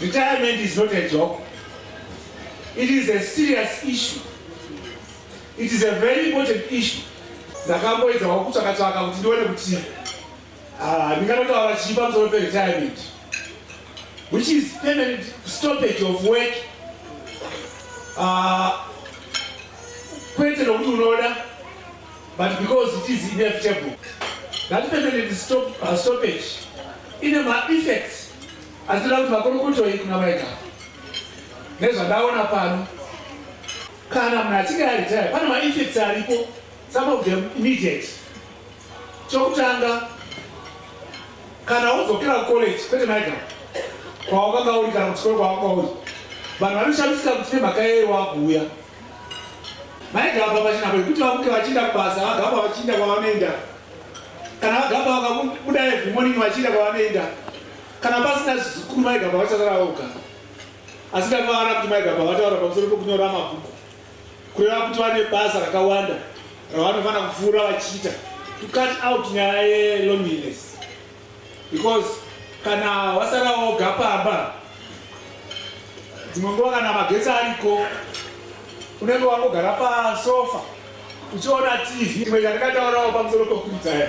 Retirement is not a joke. It is a serious issue. It is a very important issue. ndakamboedzawo kutsvakatsvaka kuti ndione kuti Ah, ndikanotaura chii pamusoro peretirement which is permanent stoppage of work ah, kwete nokuti unoda but because it is inevitable that permanent stop, uh, stoppage ine maeffects asinoda kuti makorokotoi kuna maita nezvandaona pano kana munhu achinge aretire pane maeffects aripo some of them immediate Chokutanga, kana wodzokera kucollege kwete maika kwawakanga uri kana kuchikoro kwawakanga uri, vanhu vanoshamisika kuti nemhaka yeye wakuuya maigamba pachina kwekuti vamuke vachienda kubasa vagamba vachienda kwavanoenda kana vagamba vakabuda every morning vachienda kwavanoenda kana pasina zvizukuru maigamba vachasara voga asi ndakavara kuti maigamba vataura pamusoro pekunyora mabhuku kureva kuti vane basa rakawanda ravanofanira kupfuura vachiita to cut out nyaya yeloneliness because kana wasara woga pamba dzimwe nguva kana magetsi ariko unenge wangogara pasofa uchiona tv imwe yandikataurawo pamusoro pekuritaya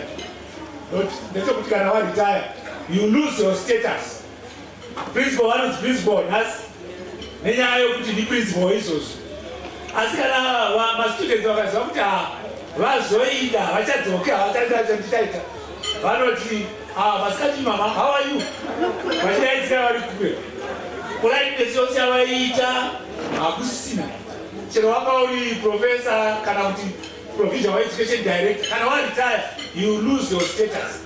ndechekuti kana waritaya you lose your status Principal vanonzi principal nhasi nenyaya yokuti ndiprincipo izvozvo asi kana mastudents vakaziva kuti ha ah, vazoida havachadzoke havachanditaita vanoti ah, masikati mama how are you vachidaidzira vari kure politeness yose yavaiita hakusina chero wanga uri professor kana kuti provision wa education director kana waretire you lose your status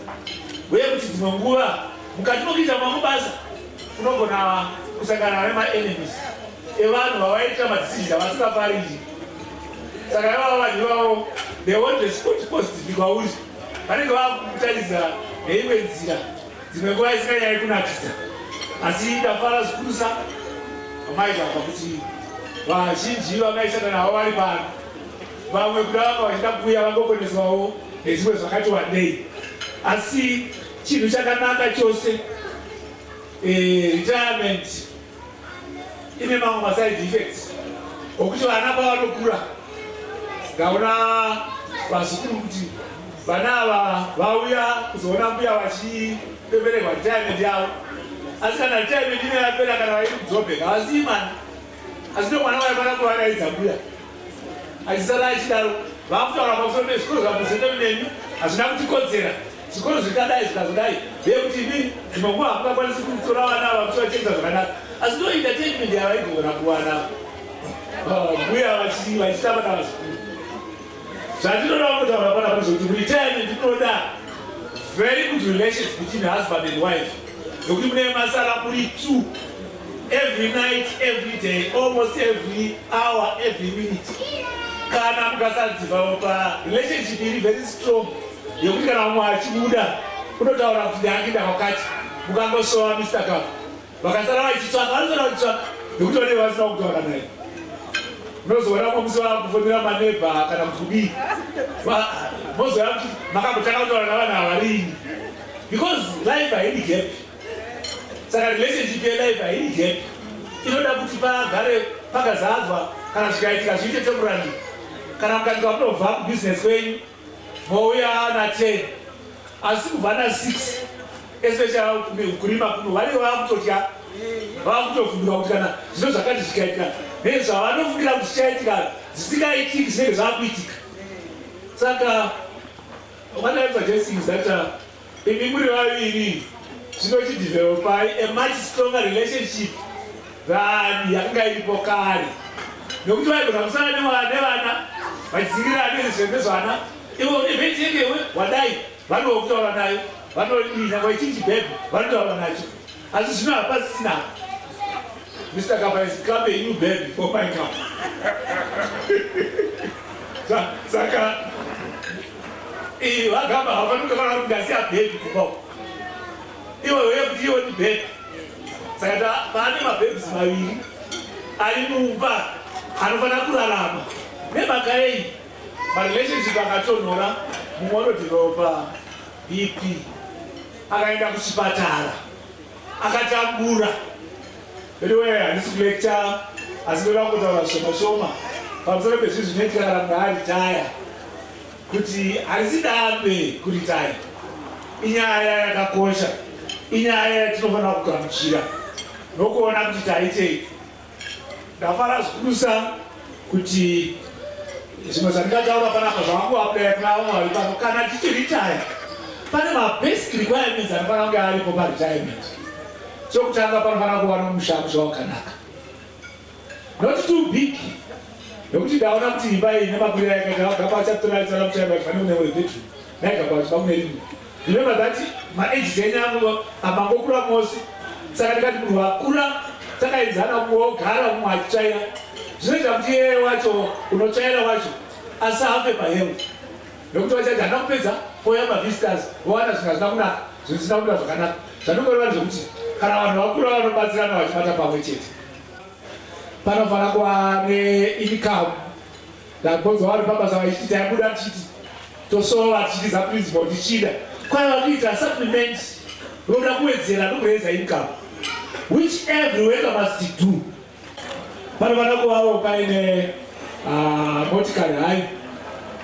uye kuti dzimwe nguva Mukati mokuita mamwe basa, unogona kusangana nemaenemies evanhu vavaita madisizhini avasingafariri. Saka ivavo vanhu ivavo they want a spot post ndikwauri vanenge vava kukutaridza neimwe nzira dzimwe nguva isinganyari kunakisa asi ndafara zvikurusa vamaigava kuti vazhinji vamaisana navo vari pano vamwe kuda vanga vachida kuuya vangokoneswawo nezvimwe zvakati wandei asi Chinhu chakanaka chose eh, retirement ine mamwe maside effects okuti vana pavanokura ndaona vazukuru kuti vana ava vauya kuzoona mbuya vachipeperegwa retirement yavo asi kana retirement ine yapera kana vairi kudzobheka havasii mwana asi ndomwana vaifana kuvaraidza mbuya Achisara achidaro vakutaura pamusoro pezvikoro zvamusendo nemi hazvina kutikodzera zvikoro zvikadai zvikazodai zviye kuti ini dzimwe nguva hakungakwanisi kutora vana ava kuti vachengza zvakanaka asi ndo entertainment yavaigona kuwana mbuya ah, vachitamba na vazukuru zvandinoda kutaura pana kuti kuti retirement inoda very good relations between husband and wife nokuti mune masara muri two every night every day almost every hour every minute kana mukasadzivawo pa relationship iri very strong yekuti kana umwe achibuda unotaura kuti ndakida kwakati mukangoshowa mr ka vakasara vachitsvaka vanosara vachitsvaka nekuti vanee vasina kutaura naye unozoona kwamusi vakufonera manebha kana kuti kudii mozoona kuti makambotanga kutaura navanhu havarini because life haidi gapi saka relationship yelife haini gap inoda kuti pagare pakazadzwa kana zvikaitika zviite temurandi kana mukaitika kunobva kubusiness kwenyu mouya na 10 asi kubva na 6 especially kurima kuno variyo vakutotya vakutofundira kuti kana zvino zvakati zvikaitika nezvavanofungira kuti zvichaitika zvisingaitiki zvinenge zvakuitika saka what I'm suggesting is that uh, Imi muri vaviri zvino chidevelopai a much stronger relationship than yakanga iripo kare nekuti vaigona kusana nevana vachizirirana nezvembe zvana ivo nevetekewe wadai vanookutaura nayo vanodina vachinji bhebhe vanotaura nacho Asi zvino hapasina. Mr. Kapa is clapping you baby for my cup. Saka iyi vagamba havafanike kana kuti ndasiya baby kupa. Iwe uye kuti iwe ni baby. Saka ta pane mababes maviri ari mumba anofanira kurarama nemhaka yei marelationship akatonhora mumwe anoti ropa BP akaenda kuchipatara akatabura veduwee handisi kulecture asi ndoda kutaura zvishoma shoma pamusoro pezvi zvinoitika kana munhu aritaya kuti harisi dambe kuritaya inyaya yakakosha inyaya yatinofanira kugamuchira nokuona kuti taitei Ndafara zvikurusa kuti zvimwe zvandingataura panapa zvavanguaplaya kuna vamwe vari pano kana tichiritaya pane mabasic requirements anofanira kunge aripo paretirement chokutanga panofanira kuva nomusha musha wakanaka not too big nokuti ndaona kuti imba iyi nemakwira yakaita vagapa achatoraisaaa kuti fanira kune webedroom naigapa kuti vakunerimwe Remember that maage enyu angu amangokura mose saka ndikati munhu wakura takaenzana umwe wogara umwe achitsvaira zvinoita kuti yeye wacho unotsvaira wacho asi afe pahemu nokuti vachaiti hana kupedza oya mavisitors vowana zvinhu hazvina kunaka zvisina kuda zvakanaka zvanongoreva ndezvekuti kana vanhu vakura vanobatsirana vachibata pamwe chete panofanira kuva neinikamu Ndagonzwa vari pabasa vachiti taibuda tichiti tosova tichitiza principal tichida kwaiva kuita supplement roda kuwedzera nokureza income which every worker must do panofanira kuvawo paine ah, motikari hayi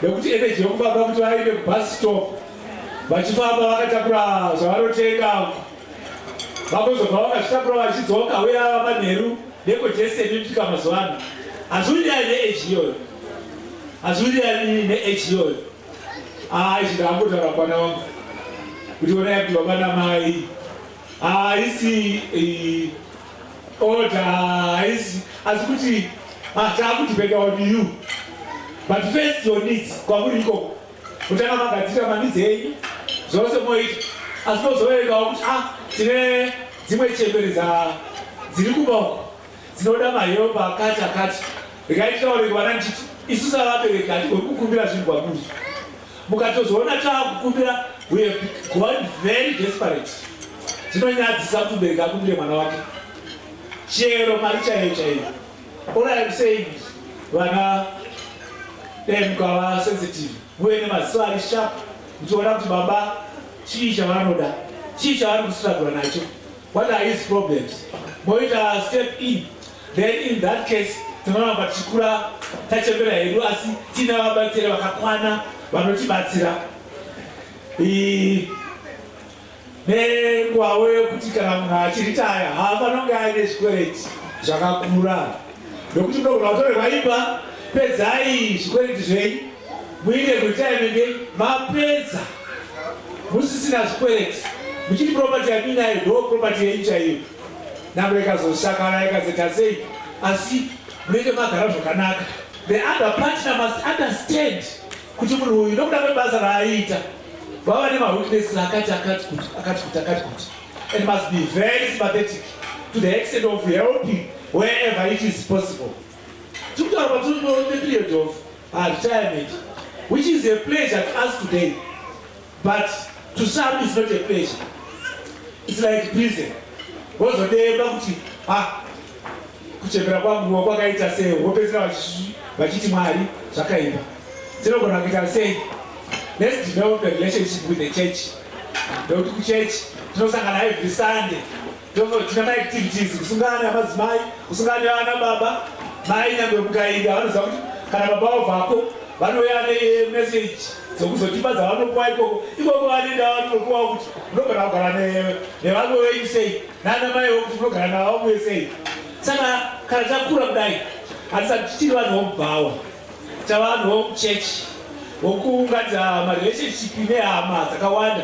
nekuti energy yokufamba kuti vaende kubus stop vachifamba vakatakura zvavanotenga vakuzobva vakazvitakura vachidzoka uye ava manheru deko jese rinopika mazuva ano hazviwirirani neage iyoyo hazviwirirani neage iyoyo haa izvi ndakambotaura kwana wangu kuti ona yakuti baba namai haisi eh, oda haisi asi kuti ah, taakudependa on you but first your needs kwakuri ikoko Kutanga magadzirira mamidzi enyu zvose moita asi mozoverengawo kuti a tine dzimwe chembere dziri kuba uko dzinoda mahelpa akati akati rikaititaurei vana ndichiti isu savabereki hatigoni kukumbira zvinhu kwamuri mukatozoona taakukumbira we have gone very desperate zvinonyadzisa kuti mubereki akumbire mwana wake chero mari chaiyo chaiyo All I am saying is vana dem kava sensitive uye nemaziso ari sharp ndichiona kuti baba chii chavanoda chii chavari kustruggle nacho what are his problems moita step in then in that case tinoramba tichikura tachembera hedu asi tiina vabatsiri vakakwana vanotibatsira nengwavo yokuti kana munhu achiritaya haafanira kunge aine zvikwereti zvakakura nokuti munogona kutorerwa imba pedzai zvikwereti zvenyu muite kuritaimende mapedza musisina zvikwereti muchiti propati yaminayo ndo propati yenyu chaiyo namba ikazosakana ikazeta sei asi munenge magara zvakanaka the other partner must understand kuti munhu uyu nokuda kwebasa raaiita vava nemawitness akati akati kuti akati kuti akati kuti and must be very sympathetic to the extent of helping wherever it is possible tikutaura patinoone period of ah, retirement which is a pleasure to us today But to some it's not a pleasure. It's like prison. Wozodemba kuti ah kuchembera kwangu kwakaita sei wopedzera vachiti Mwari zvakaipa. Tinogona kuita sei? Let's develop a relationship with the church. Ndokuti kuchurch tinosangana every Sunday. Tozochita ma activities kusungana namadzimai, kusungana nevana baba, mai nyangwe mukainda vanoziva kuti kana baba wavo vako vanouya nemessage dzekuzotipa dzavanopuwa ikoko ikoko vanoenda vanopuwa kuti munogara kugara nevamwe venyu sei nana maiwo kuti munogara navamwe sei saka kana takura kudai hatisati tichiri vanhu vomubhawa tavanhu vomuchechi vokuunganidza marelationship nehama dzakawanda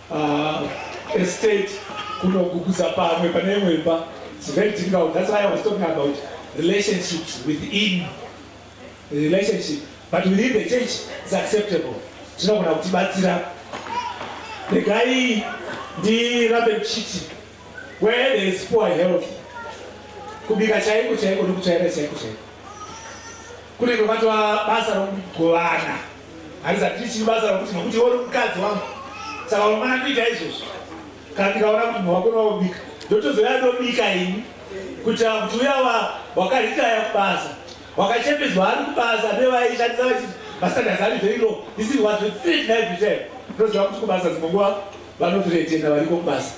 Uh, estate kunoguguza pamwe pane imwe imba it's very difficult that's why i was talking about relationships within relationship but within the church is acceptable zvinogona kutibatsira regai ndirambe ndichiti Where there is poor health, kubika chaiko chaiko nekutsvaira chaiko chaiko kunenge kwatova basa rokugovana harizati richiri basa rokuti nokuti iwo nomukadzi wangu saka unomana kuita izvozvo kana ndikaona kuti munhu wako nowobika ndotozouya ndobika ini kuitira kuti uya wakaritaya kubasa wakachembedzwa ari kubasa nevaishandisa vachiti mastandards ari very low this is what we think every time ndoziva kuti kubasa dzimwe nguva Vanotiretenda variko kubasa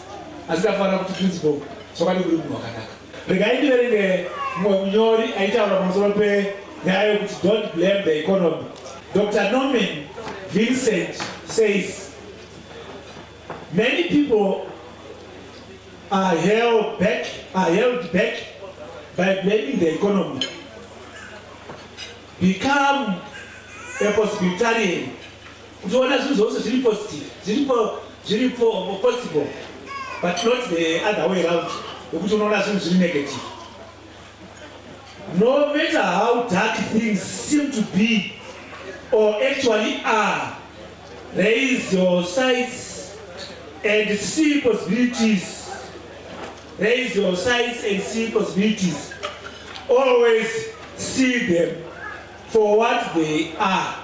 asi tafanira kuti principal chokwadi kuri munhu wakanaka. Regai ndiverenge mumwe munyori aitaura pamusoro penyaya yokuti don't blame the economy. Dr Norman Vincent says many people are held back, are held back by blaming the economy. Become a hospitarian Kutiona zvinhu zvose zviri positive, zviripo zviripo possible but not the other way around yokuti unoona zvinhu zviri negative. No matter how dark things seem to be or actually are, raise your sights and see possibilities raise your sights and see possibilities. Always see them for what they are.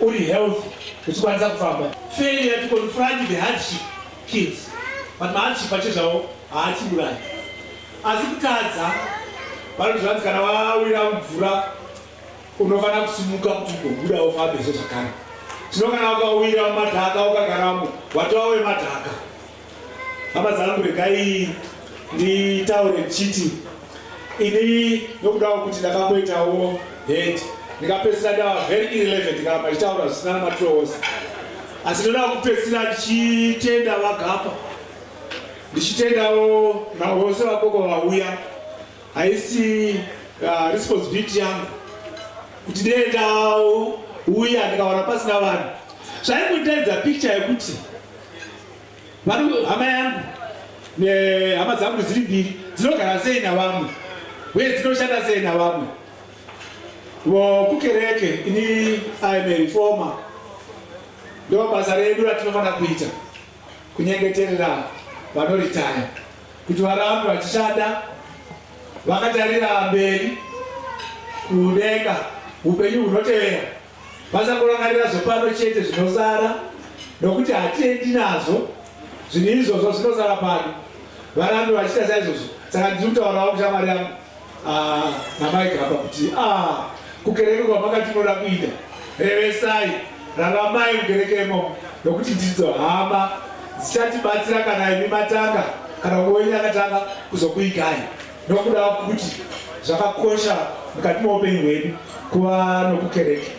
uri health uchikwanisa kufamba failure to confront the hardship kills but mahardship acho zvavo haachiburayi asi kutadza vanozvanzi kana wawira mvura unofanira kusimuka kuti ugobuda ufambezve zvakare tino kana ukawira mumadhaka ukagaramo watova wemadhaka Hama dzangu regai nditaure ndichiti ini nokudawo kuti ndakamboitawo head ndikapedzisira ndava very irrelevant kana machitaura zvisina namatoos asi ndoda kupedzisira ndichitenda vagapa ndichitendawo navose vakoko vauya haisi uh, responsibility yangu kuti ndiendawo uya ndikawana pasina vanhu zvaikundedza picture yekuti Vanhu hama yangu nehama dzangu dziri mbiri dzinogara sei navamwe uye dzinoshanda sei navamwe vokukereke ini aimerifoma ndo basa redu ratinofanira kuita kunyengeterera vanoritaya kuti varambe vachishanda vakatarira mberi kudenga upenyu hunotevera Vasangorangarira zvepano chete zvinosara, nokuti hatiendi nazvo zvinhu izvozvo zvinosara pano. Varambe vachiita saizvozvo. Saka ndiri kutaurawo kushamwari yangu ah, namai Gamba kuti ah, kukereke kwamakati unoda kuita, revesai, raramai mukereke imomo, nokuti ndidzo hama dzichatibatsira kana imi matanga kana umwe wenyu akatanga kuzokuigai. Nokuda kuti zvakakosha mukati meupenyu hwedu kuva nokukereke.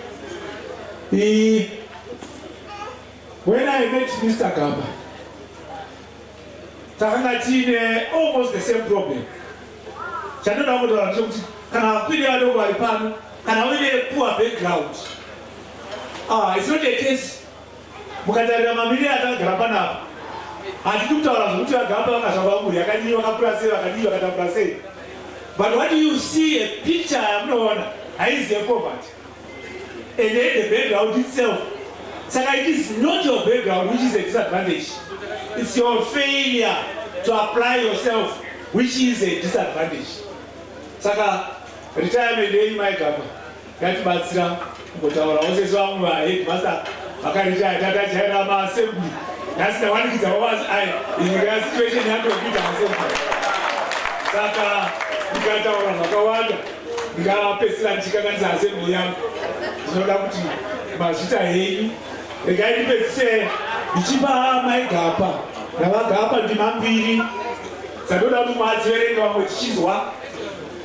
When I met Mr. Gamba, takanga tiine almost the same problem. Chandinoda kutaura ndechekuti kana vakwiri vadoko vari pano, kana uine poor background, ah, it's not a case Mukatarira mamirire atakagara panapa, hatidi kutaura zvekuti vagamba vakazvarwa mhuri yakadii, vakakura sei, vakadii, vakatambura sei. But what you see a picture yamunoona haizi yepoverty. And then the background itself. Saka it is not your background which is a disadvantage. It's your failure to apply yourself which is a disadvantage. Saka retirement yenyu maigamba. Yatibatsira kungotaura vosese vamwe vaheadmaster vakaritaya tatajaira maassembly nhasi ndawanikidza wawazi ai inyika yasituation yatokuita maassembly saka ndikataura zvakawanda ndikapedzisira ndichikanganisa assembly yangu zvinoda kuti mazvita henyu regai ndipedzise ndichipa maigapa ndavagapa ndima mbiri dzatoda kuti mwadziverenga vamwe tichinzwa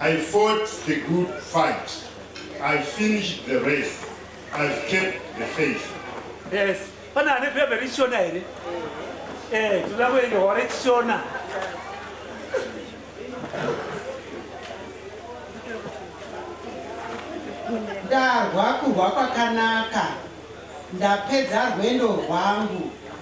I fought the good fight. I finished the race. I've kept the faith. Yes. Pana ane pepe rishona here? Eh, tuda kuende hore chishona. Ndarwa kurwa kwakanaka. Ndapedza rwendo rwangu.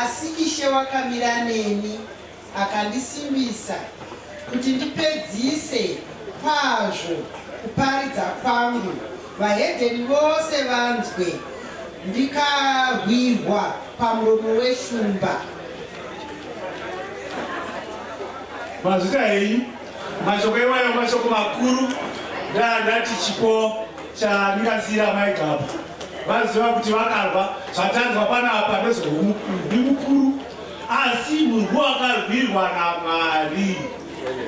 Asi Ishe wakamira neni, akandisimbisa kuti ndipedzise kwazvo kuparidza kwangu, vahedheni vose vanzwe, ndikahwirwa pamuromo weshumba. Mazvita henyu mashoko iwayo mashoko makuru, ndaa ndati chipo. Chandingasiyira mai Gaba vaziva kuti vakarwa zvatanzwa panapa ndezvomukundi mukuru asi murwu wakarwirwa naMwari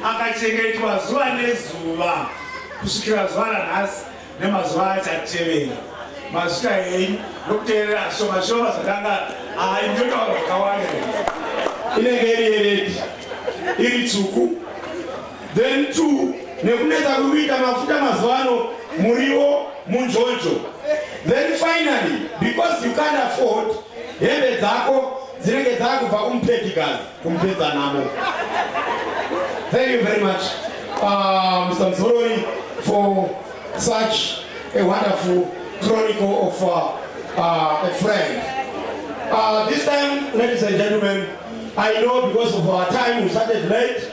akachengetwa zuva nezuva kusvikira zuva ranhasi nemazuva achatevera mazita enyu nokuteerera shoma shoma zvakanga aindotaura zvakawanda inenge iri yeredi iri tsvuku Then two, nekunetsa kuri kuita mafuta mazuva ano muriwo munjonjo. Then finally, because you can't afford hembe dzako dzinenge dzakubva kumupedikazi kumupedza namo. Thank you very much uh, Mr. Mzorori for such a wonderful chronicle of uh, uh, a friend. Uh, this time, ladies and gentlemen, I know because of our time we started late.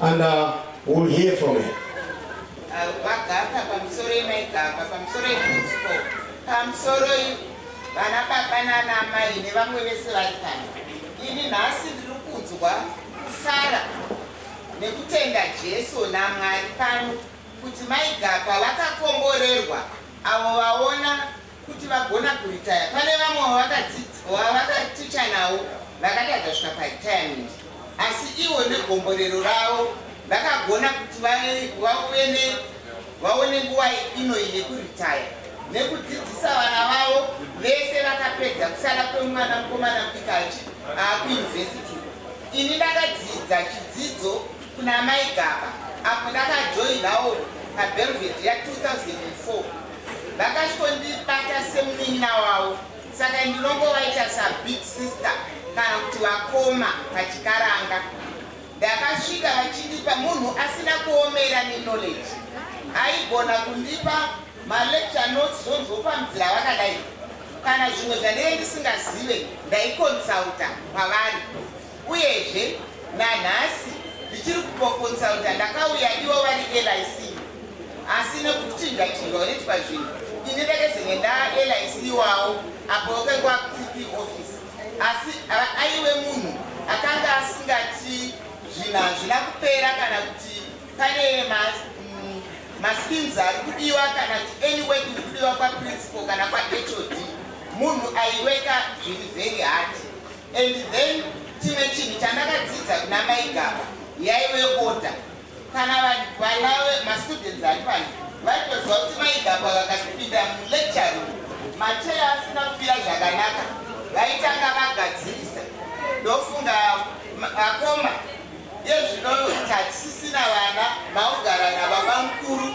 And uh, we'll hear from her. Vagaka pamusoro yemaigaka pamusoro yemusipo pamusoro vana baba nana amai nevamwe vese vari pano. Ini nhasi ndiri kunzwa kusara nekutenda Jesu naMwari pano kuti maigaka vakakomborerwa avo vaona kuti vagona kuritaya pane vamwe wavakaticha navo vakatadza svika paretirement asi ivo negomborero ravo vakagona kuti vaone nguva inoyi yekuritaya nekudzidzisa vana vavo vese vakapedza kusara kwemwana mukomana mupikachi akuuniversity ini ndakadzidza chidzidzo kuna mai gaba apo ndakajoinawo pabelved ya 2004 vakatondibata semunin'ina wavo saka ndinongovaita sabig sister kana kuti vakoma pachikaranga ndakasvika vachindipa munhu asina kuomera neknowledge aigona kundipa malecture notes zvonzopa mzira vakadai kana zvimwe zvandinge ndisingazive ndaikonsulta kwavari Uyezve, nanhasi ndichiri kupokonsulta ndakauya ivo vari LIC asi nekuchinja chinja unoitwa zvinhu ini ndakazenge ndaa LIC iwawo apo wakangwa PP office asi aiwe munhu akanga asingati zvinhu hazvina kupera kana kuti pane maskins ari kudiwa kana kuti any work iri kudiwa kwaprinciple kana kwahod munhu aiweka zviri very hard And then chimwe chinhu chandakadzidza kuna mai gaba yaive order kana vana mastudents acho vanhu vaitoziva kuti mai gaba vakatipinda mulecture room machera asina kupira zvakanaka vaitanga vagadzirisa ndofunga akoma yezvino tatisisina vana maugara nababa mukuru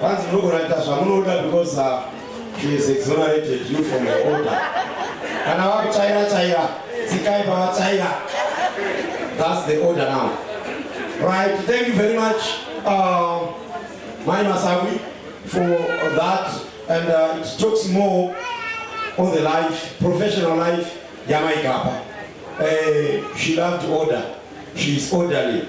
Vanzi munogona kuita zvamunoda because uh, she is exonerated you from your order. Kana vakuchaira chaira, tsikai pavachaira. That's the order now. Right, thank you very much, uh, Mai Masawi, for that. And uh, it talks more on the life, professional life, Yamaikapa. Uh, she loved order. She is orderly.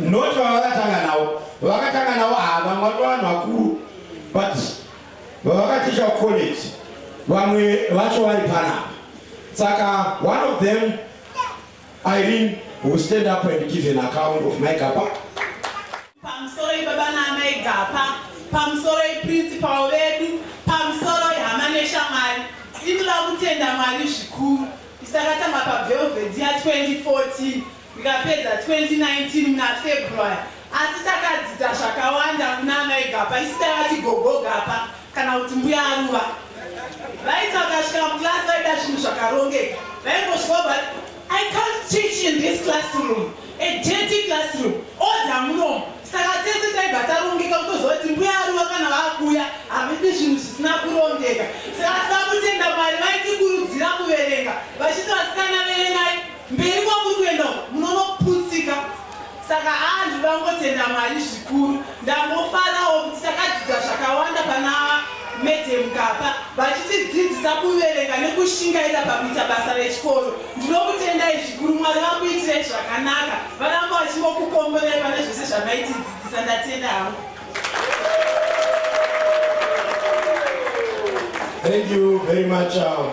not vavakatanga navo vakatanga navo havamwe ah, vavanhu vakuru but vavakaticha college vamwe vacho vari panapa saka one of them irene will stand up and give an account of my gapa pamusoro ibaba naamai gapa pamusoro iprincipal vedu pamusoro ihama neshamwari inoda kutenda mwari zvikuru isakatanga pavelvediya 2014 Ndikapedza 2019 muna February asi takadzidza zvakawanda kuna amai Gapa isi taivati gogo Gapa kana kuti mbuya Aruva. Vaiti vakasvika muclass vaida zvinhu zvakarongeka vaingosvika but I can't teach in this classroom a dirty classroom order munomu saka tese taibva tarongeka kutoziva kuti mbuya Aruva kana vakuuya havidi zvinhu zvisina kurongeka saka tava kutenda Mwari vaitikurudzira kuverenga vachiti vasikana verengai Mberi kwamuri kuenda uko munonoputsika saka haa ndinoda kungotenda Mwari zvikuru ndangofarawo kuti takadzidza zvakawanda pana Madam Gapa vachitidzidzisa kuverenga nekushingaira pakuita basa rechikoro ndinokutendai zvikuru Mwari vakuitirei zvakanaka varamba vachingokukomborai pane zvese zvamaitidzidzisa ndatenda hangu Thank you very much. Um,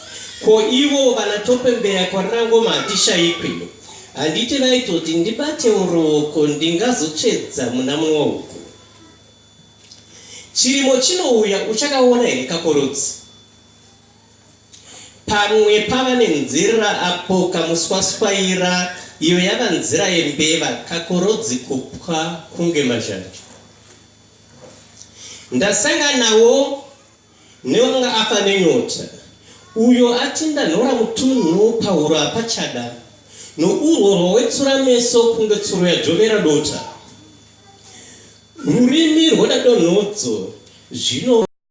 Ko ivo vanatopembeya kwaRangoma hatishaikwi. Handiti vaitoti ndibatewo ruoko ndingazotsvedza muna mumwe uku. Chirimo chinouya uchakaona here kakorodzi? Pamwe pava nenzira apo kamuswaswaira iyo yava nzira yembeva kakorodzi kupwa kunge mazhanje. Ndasanganawo Neonga afa nenyota, uyo atinda nhora mutunhu pahuro apachada, nourwo rwowetsura meso kunge tsuro yajovera dota. Rurimi rwoda donhodzo, zvino.